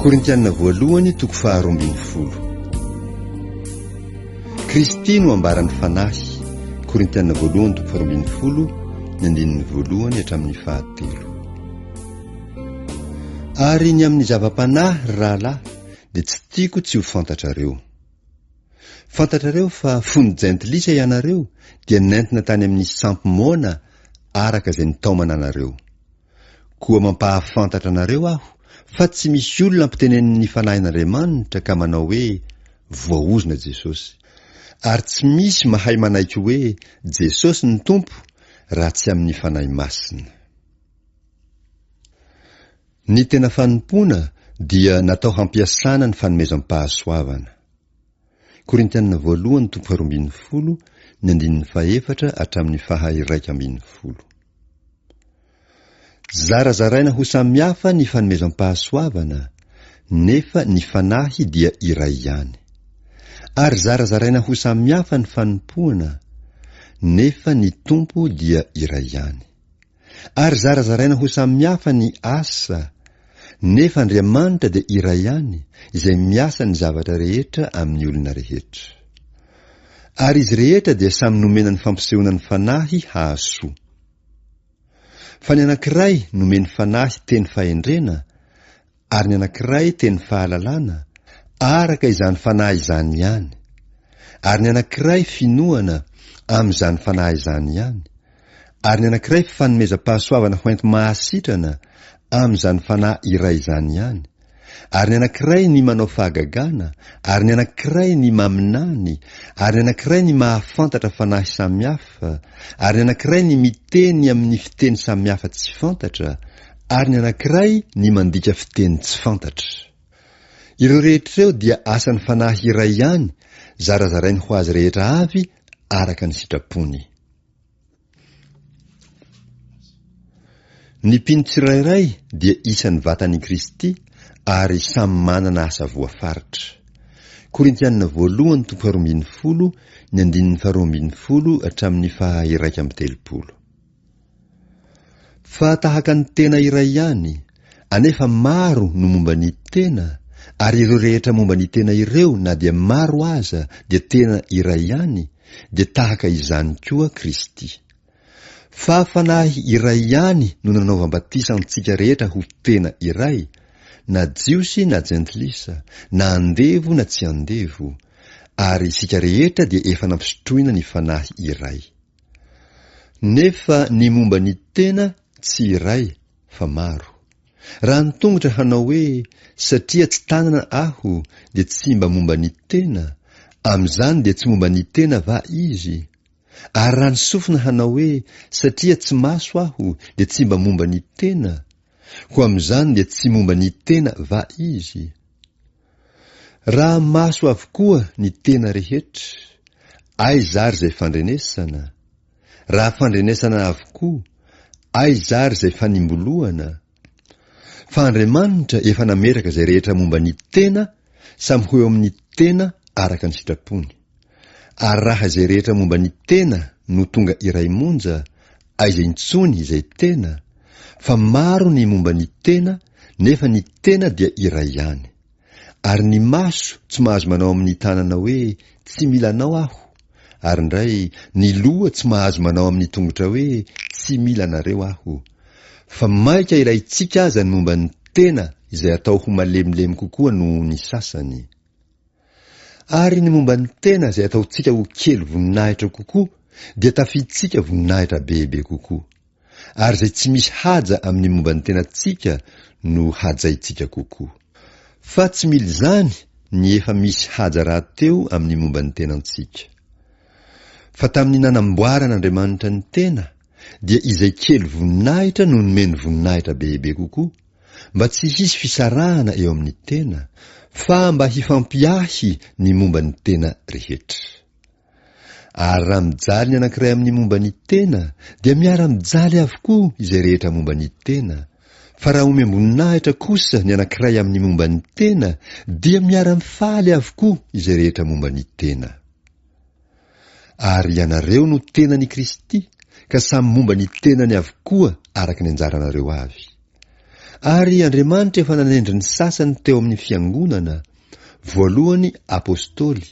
Korintiana voalohany toko faharoa ambin'ny folo. Kristy no ambaran'ny fanahy. Korintiana voalohany toko faharoa ambin'ny folo ny andininy voalohany hatramin'ny fahatelo. Ary ny amin'ny zava-panahy ry rahalahy dia tsy tiako tsy ho fantatrareo. Fantatrareo fa fony jentilisa ianareo dia nentina tany amin'ny sampy moana araka izay nitaomana anareo. Koa mampahafantatra anareo aho fa tsy misy olona ampitenenin'ny Fanahin'Andriamanitra ka manao hoe, Voaozona Jesosy. Ary tsy misy mahay manaiky hoe Jesosy no Tompo raha tsy amin'ny Fanahy Masina. Ny tena fanompoana dia natao hampiasana ny fanomezam-pahasoavana. Korintiana voalohany toko faharoa ambin'ny folo, ny andininy fahefatra hatramin'ny faha iraika ambin'ny folo. Zarazaraina ho samihafa ny fanomezam-pahasoavana, nefa ny Fanahy dia iray ihany. Ary zarazaraina ho samihafa ny fanompoana, nefa ny Tompo dia iray ihany. ary zarazaraina ho samihafa ny asa, nefa Andriamanitra dia iray ihany izay miasa ny zavatra rehetra amin'ny olona rehetra. Ary izy rehetra dia samy nomena ny fampisehoana ny Fanahy hahasoa. Fa ny anankiray nomeny Fanahy teny fahendrena, Ary ny anankiray teny fahalalana, araka izany fanahy izany ihany. Ary ny anankiray finoana, amin'izany fanahy izany ihany. Ary ny anankiray fifanomezam-pahasoavana hoenti-mahasitrana, amin'izany fanahy iray izany ihany. Ary ny anankiray ny manao fahagagana, ary ny anankiray ny maminany, ary ny anankiray ny mahafantatra fanahy samihafa, ary ny anankiray ny miteny amin'ny fiteny samihafa tsy fantatra, ary ny anankiray ny mandika fiteny tsy fantatra. Ireo rehetra ireo dia asan'ny Fanahy iray ihany, zarazarainy ho azy rehetra avy araka ny sitrapony. Ny mpino tsirairay dia isan'ny vatan'i Kristy ary samy manana asa voafaritra. Korintianina voalohany toko faharoa ambin'ny folo, ny andininy faharoa ambin'ny folo hatramin'ny faha iraika amby telopolo. Fa tahaka ny tena iray ihany, anefa maro no momba ny tena, ary ireo rehetra momba ny tena ireo na dia maro aza dia tena iray ihany, dia tahaka izany koa Kristy. Fa fanahy iray ihany no nanaovam-batisa antsika rehetra ho tena iray, na Jiosy na Jentilisa, na andevo na tsy andevo, ary isika rehetra dia efa nampisotroina ny fanahy iray. Nefa ny momba ny tena tsy iray fa maro. Raha ny tongotra hanao hoe satria tsy tanana aho dia tsy mba momba ny tena, amin'izany dia tsy momba ny tena va izy? Ary raha ny sofina hanao hoe satria tsy maso aho dia tsy mba momba ny tena, koa amin'izany dia tsy momba ny tena va izy? Raha maso avokoa ny tena rehetra, aiza ary izay fandrenesana? Raha fandrenesana avokoa, aiza ary izay fanimboloana? Fa Andriamanitra efa nametraka izay rehetra momba ny tena samy ho eo amin'ny tena araka ny sitrapony. Ary raha izay rehetra momba ny tena no tonga iray monja, aiza intsony izay tena, fa maro ny momba ny tena nefa ny tena dia iray ihany. Ary ny maso tsy mahazo manao amin'ny tanana hoe tsy mila anao aho, ary indray ny loha tsy mahazo manao amin'ny tongotra hoe tsy mila anareo aho. Fa maika ilaintsika aza ny momba ny tena izay atao ho malemilemy kokoa noho ny sasany. Ary ny momba ny tena izay ataontsika ho kely voninahitra kokoa dia tafidintsika voninahitra bebe kokoa. Ary izay tsy misy haja amin'ny momba ny tenantsika no hajaintsika kokoa. Fa tsy mila izany ny efa misy haja rahateo amin'ny momba ny tenantsika. Fa tamin'ny nanamboaran'Andriamanitra ny tena dia izay kely voninahitra no nomeny voninahitra bebe kokoa, mba tsy hisy fisarahana eo amin'ny tena fa mba hifampiahy ny momba ny tena rehetra. Ary raha mijaly ny anankiray amin'ny momba ny tena dia miara-mijaly avokoa izay rehetra momba ny tena, fa raha omem-boninahitra kosa ny anankiray amin'ny momba ny tena dia miara-mifaly avokoa izay rehetra momba ny tena. Ary ianareo no tenan' i Kristy, ka samy momba ny tenany avokoa araka ny anjaranareo avy. Ary Andriamanitra efa nanendry ny sasany teo amin' ny fiangonana, voalohany apôstôly,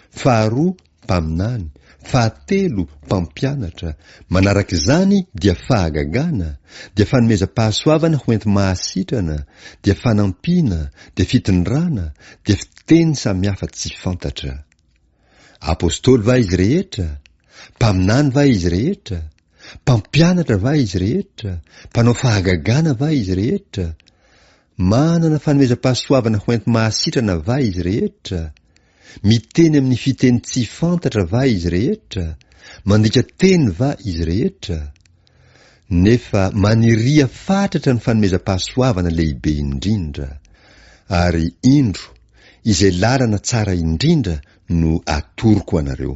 faharoa mpaminany, fahatelo mpampianatra, manaraka izany dia fahagagana, dia fanomezam-pahasoavana ho enti-mahasitrana, dia fanampiana, dia fitondrana, dia fiteny samihafa tsy fantatra. Apostoly va izy rehetra? Mpaminany va izy rehetra? Mpampianatra va izy rehetra? Mpanao fahagagana va izy rehetra? Manana fanomezam-pahasoavana hoenti-mahasitrana va izy rehetra? Miteny amin'ny fiteny tsy fantatra va izy rehetra? Mandika teny va izy rehetra? Nefa maniria fatratra ny fanomezam-pahasoavana lehibe indrindra, ary indro, izay lalana tsara indrindra no atoroko anareo.